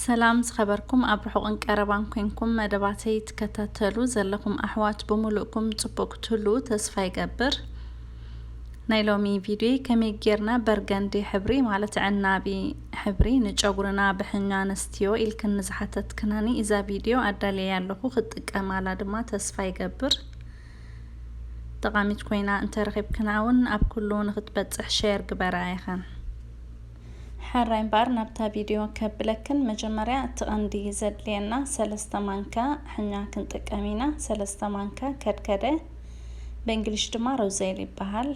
ሰላም ዝኸበርኩም ኣብ ርሑቕን ቀረባን ኮንኩም መደባተይ ትከታተሉ ዘለኹም ኣሕዋት ብምሉእኩም ጽቡቕ ክትህልዉ ተስፋ ይገብር ናይ ሎሚ ቪድዮ ከመይ ጌርና በርገንዲ ሕብሪ ማለት ዕናቢ ሕብሪ ንጨጉርና ብሕኛ ኣንስትዮ ኢልክን ንዝሓተትክናኒ እዛ ቪድዮ ኣዳልየ ኣለኹ ክትጥቀማላ ድማ ተስፋ ይገብር ጠቓሚት ኮይና እንተረኺብክና እውን ኣብ ኩሉ ንክትበፅሕ ሸር ግበራ ኢኸን ሐራይ እምበኣር ናብታ ቪድዮ ከብለክን መጀመርያ እቲ ቀንዲ ዘድልየና ሰለስተ ማንካ ሕኛ ክንጥቀም ኢና ሰለስተ ማንካ ከድከደ በእንግሊሽ ድማ ሮዜል ይበሃል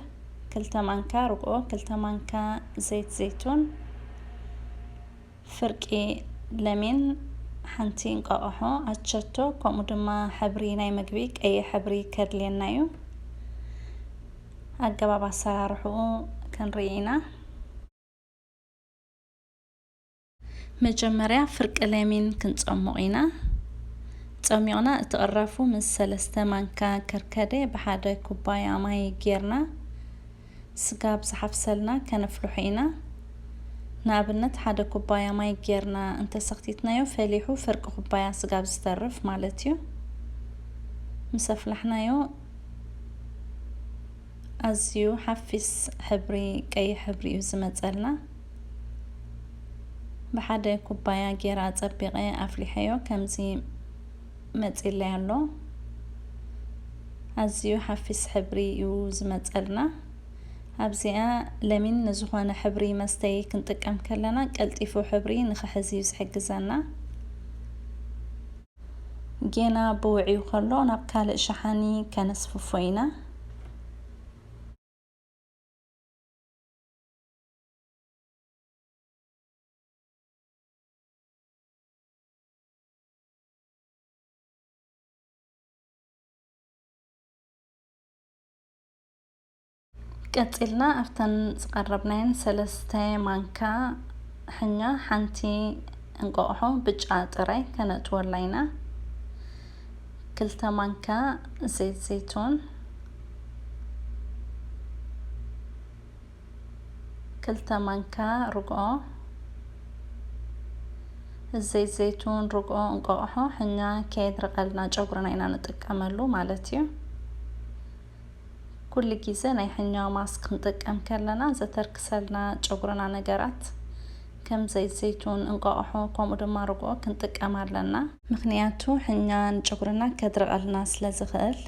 ክልተ ማንካ ርግኦ ክልተ ማንካ ዘይት ዘይቱን ፍርቂ ለሚን ሓንቲ እንቋቆሖ ኣቸቶ ከምኡ ድማ ሕብሪ ናይ ምግቢ ቀይሕ ሕብሪ ከድልየና እዩ ኣገባብ ኣሰራርሕኡ ክንርኢ ኢና። መጀመርያ ፍርቂ ለሚን ክንፀሙቕ ኢና። ፀሚቕና እቲ ቅራፉ ምስ ሰለስተ ማንካ ከርከደ ብሓደ ኩባያ ማይ ጌርና ስጋ ኣብ ዝሓፍሰልና ከነፍልሖ ኢና። ንኣብነት ሓደ ኩባያ ማይ ጌርና እንተሰኽቲትናዮ ፈሊሑ ፍርቂ ኩባያ ስጋ ኣብ ዝተርፍ ማለት እዩ። ምስ ኣፍላሕናዮ ኣዝዩ ሓፊስ ሕብሪ ቀይሕ ሕብሪ እዩ ዝመፀልና ብሓደ ኩባያ ጌራ ኣፀቢቐ ኣፍሊሐዮ ከምዚ መፂለይ ኣሎ ኣዝዩ ሓፊስ ሕብሪ እዩ ዝመፀልና ኣብዚኣ ለሚን ንዝኾነ ሕብሪ መስተይ ክንጥቀም ከለና ቀልጢፉ ሕብሪ ንክሕዝ እዩ ዝሕግዘና ጌና ብውዕዩ ከሎ ናብ ካልእ ሸሓኒ ከነስፍፎ ኢና። ቀጺልና ኣብተን ዝቐረብናየን ሰለስተ ማንካ ሕኛ ሓንቲ እንቋቑሖ ብጫ ጥራይ ከነእትወላ ኢና። ክልተ ማንካ ዘይት ዘይቱን ክልተ ማንካ ርግኦ ዘይት ዘይቱን ርግኦ እንቋቑሖ ሕኛ ከየድረቐልና ጨጉርና ኢና ንጥቀመሉ ማለት እዩ ኩሉ ግዜ ናይ ሕኛ ማስክ ክንጥቀም ከለና ዘተርክሰልና ጨጉርና ነገራት ከም ዘይት ዘይቱን፣ እንቋቑሖ ከምኡ ድማ ርግኦ ክንጥቀም ኣለና። ምኽንያቱ ሕኛ ንጨጉርና ከድርቐልና ስለ ዝኽእል።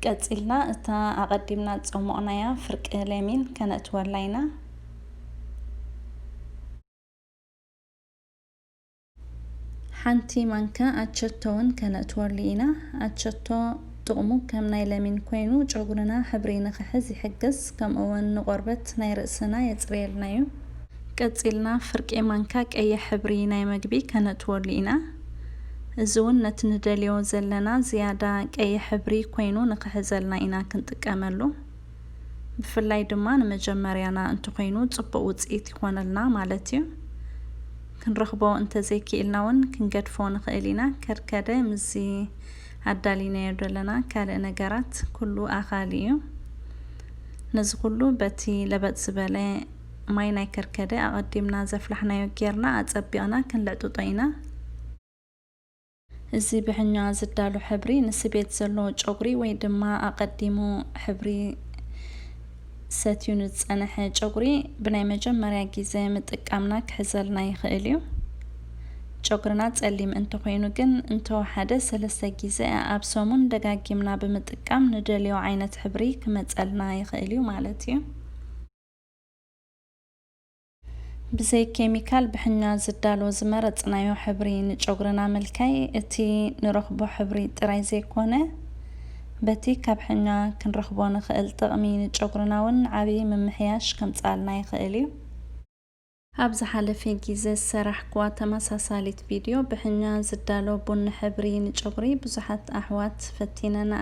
ቀጺልና እታ ኣቐዲምና ዝጸሞቕናያ ፍርቂ ሌሚን ከነእትወላ ኢና። ሓንቲ ማንካ ኣቸቶ ውን ከነእትወሉ ኢና። ኣቸቶ ጥቕሙ ከም ናይ ለሚን ኮይኑ ጨጉርና ሕብሪ ንኽሕዝ ይሕግዝ ከምኡ ውን ንቆርበት ናይ ርእስና የጽርየልና ዩ። ቀጺልና ፍርቂ ማንካ ቀይሕ ሕብሪ ናይ መግቢ ከነእትወሉ ኢና። እዚ ውን ነቲ ንደልዮ ዘለና ዝያዳ ቀይሕ ሕብሪ ኮይኑ ንኽሕዘልና ኢና ክንጥቀመሉ። ብፍላይ ድማ ንመጀመርያና እንተኾይኑ ጽቡቕ ውጽኢት ይኾነልና ማለት ዩ። ክንረኽቦ እንተዘይኪኢልና ውን ክንገድፎ ንኽእል ኢና ከርከደ ምስዚ ኣዳሊናዮ ደለና ካልእ ነገራት ኩሉ ኣኻሊ እዩ ነዚ ኩሉ በቲ ለበጥ ዝበለ ማይ ናይ ከርከደ ኣቐዲምና ዘፍላሕናዮ ጌርና ኣጸቢቕና ክንልዕጥጦ ኢና። እዚ ብሕኛ ዝዳሎ ሕብሪ ንስቤት ዘሎ ጨጉሪ ወይ ድማ ኣቐዲሙ ሕብሪ ሰትዩ ንዝጸነሐ ጨጉሪ ብናይ መጀመርያ ጊዘ ምጥቃምና ክሕዘልና ይኽእል እዩ። ጨጉርና ጸሊም እንተኾይኑ ግን እንተወሓደ ሰለስተ ጊዘ ኣብ ሰሙን ደጋጊምና ብምጥቃም ንደልዮ ዓይነት ሕብሪ ክመጸልና ይኽእል እዩ ማለት እዩ። ብዘይ ኬሚካል ብሕኛ ዝዳሎ ዝመረጽናዮ ሕብሪ ንጨጉርና ምልካይ እቲ ንረኽቦ ሕብሪ ጥራይ ዘይኮነ በቲ ካብ ሕኛ ክንረኽቦ ንኽእል ጥቕሚ ንጨጉርና ውን ዓቢ ምምሕያሽ ከምጽኣልና ይኽእል እዩ። ኣብ ዝሓለፈ ጊዘ ዝሰራሕኩዋ ተመሳሳሊት ቪድዮ ብሕኛ ዝዳሎ ቡኒ ሕብሪ ንጨጉሪ ብዙሓት ኣሕዋት ፈቲነንኣ።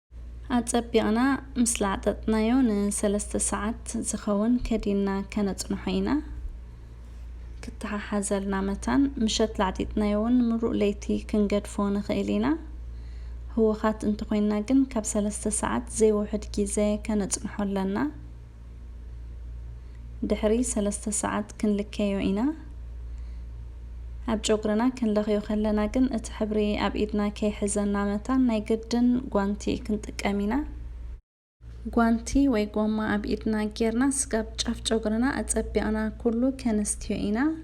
ኣጸቢቕና ምስ ላዕጠጥናዮ ንሰለስተ ሰዓት ዝኸውን ከዲንና ከነጽንሖ ኢና። ክተሓሓዘልና መታን ምሸት ላዕጢጥናዮ እውን ምሉእ ለይቲ ክንገድፎ ንኽእል ኢና። ህዉኻት እንተኾይንና ግን ካብ ሰለስተ ሰዓት ዘይውሕድ ጊዘ ከነጽንሖ ኣለና። ድሕሪ ሰለስተ ሰዓት ክንልከዮ ኢና። ኣብ ጨጉርና ክንለኽዮ ከለና ግን እቲ ሕብሪ ኣብ ኢድና ከይሕዘና መታን ናይ ግድን ጓንቲ ክንጥቀም ኢና። ጓንቲ ወይ ጎማ ኣብ ኢድና ጌርና ስጋብ ጫፍ ጨጉርና ኣጸቢቕና ኩሉ ከነስትዮ ኢና።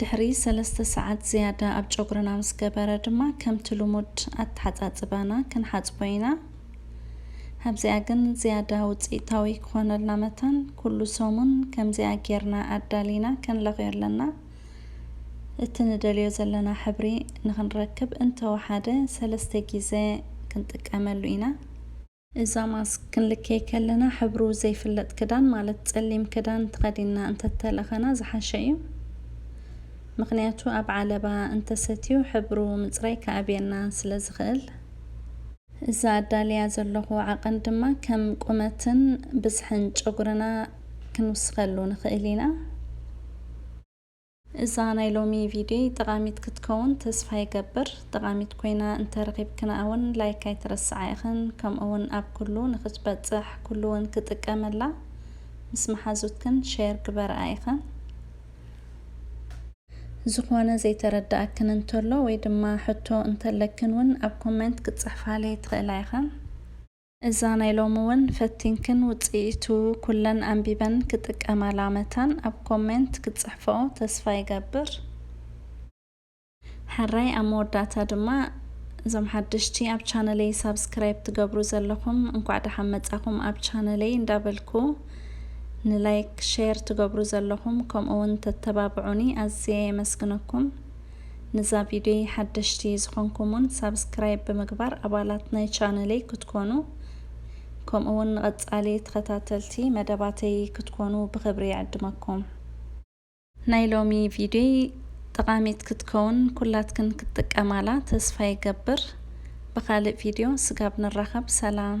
ድሕሪ ሰለስተ ሰዓት ዝያዳ ኣብ ጨጉርና ምስ ገበረ ድማ ከምቲ ልሙድ ኣተሓጻጽባና ክንሓጽቦ ኢና። ኣብዚኣ ግን ዝያዳ ውጽኢታዊ ክኾነልና መታን ኩሉ ሰሙን ከምዚኣ ጌርና ኣዳሊና ክንለኽዮ ኣለና። እቲ ንደልዮ ዘለና ሕብሪ ንኽንረክብ እንተወሓደ ሰለስተ ጊዘ ክንጥቀመሉ ኢና። እዛ ማስክ ክንልከይ ከለና ሕብሩ ዘይፍለጥ ክዳን ማለት ጸሊም ክዳን ተኸዲንና እንተተለኸና ዝሓሸ እዩ። ምኽንያቱ ኣብ ዓለባ እንተሰትዩ ሕብሩ ምጽራይ ክኣብየና ስለ ዝኽእል። እዛ ኣዳልያ ዘለኹ ዓቐን ድማ ከም ቁመትን ብዝሕን ጨጉርና ክንውስኸሉ ንኽእል ኢና። እዛ ናይ ሎሚ ቪድዮይ ጠቓሚት ክትከውን ተስፋ ይገብር። ጠቓሚት ኮይና እንተ ረኺብክንኣ ውን ላይክ ኣይትረስዓ ኢኽን ከምኡ ውን ኣብ ኩሉ ንኽትበጽሕ ኩሉ ውን ክጥቀመላ ምስ መሓዙትክን ሼር ግበርኣ ኢኽን። ዝኾነ ዘይተረድኣክን እንተሎ ወይ ድማ ሕቶ እንተለክን ውን ኣብ ኮመንት ክትጽሕፋለይ ትኽእላ ኢኽን። እዛ ናይ ሎሚ ውን ፈቲንክን ውጽኢቱ ኩለን ኣንቢበን ክጥቀማላ መታን ኣብ ኮሜንት ክትጽሕፍኦ ተስፋ ይገብር ሐራይ ኣብ መወዳእታ ድማ እዞም ሓደሽቲ ኣብ ቻነለይ ሳብስክራይብ ትገብሩ ዘለኹም እንኳዕ ደሓን መጻኹም ኣብ ቻነለይ እንዳበልኩ ንላይክ ሼር ትገብሩ ዘለኹም ከምኡ ውን ተተባብዑኒ ኣዝየ የመስግነኩም ንዛ ቪድዮይ ሓደሽቲ ዝኾንኩም ውን ሳብስክራይብ ብምግባር ኣባላት ናይ ቻነለይ ክትኮኑ ከምኡ ውን ንቐጻሊ ተኸታተልቲ መደባተይ ክትኮኑ ብኽብሪ ይዕድመኩም። ናይ ሎሚ ቪድዮይ ጠቓሚት ክትከውን ኩላትክን ክትጥቀማላ ተስፋ ይገብር። ብኻልእ ቪድዮ ስጋብ ንራኸብ ሰላም።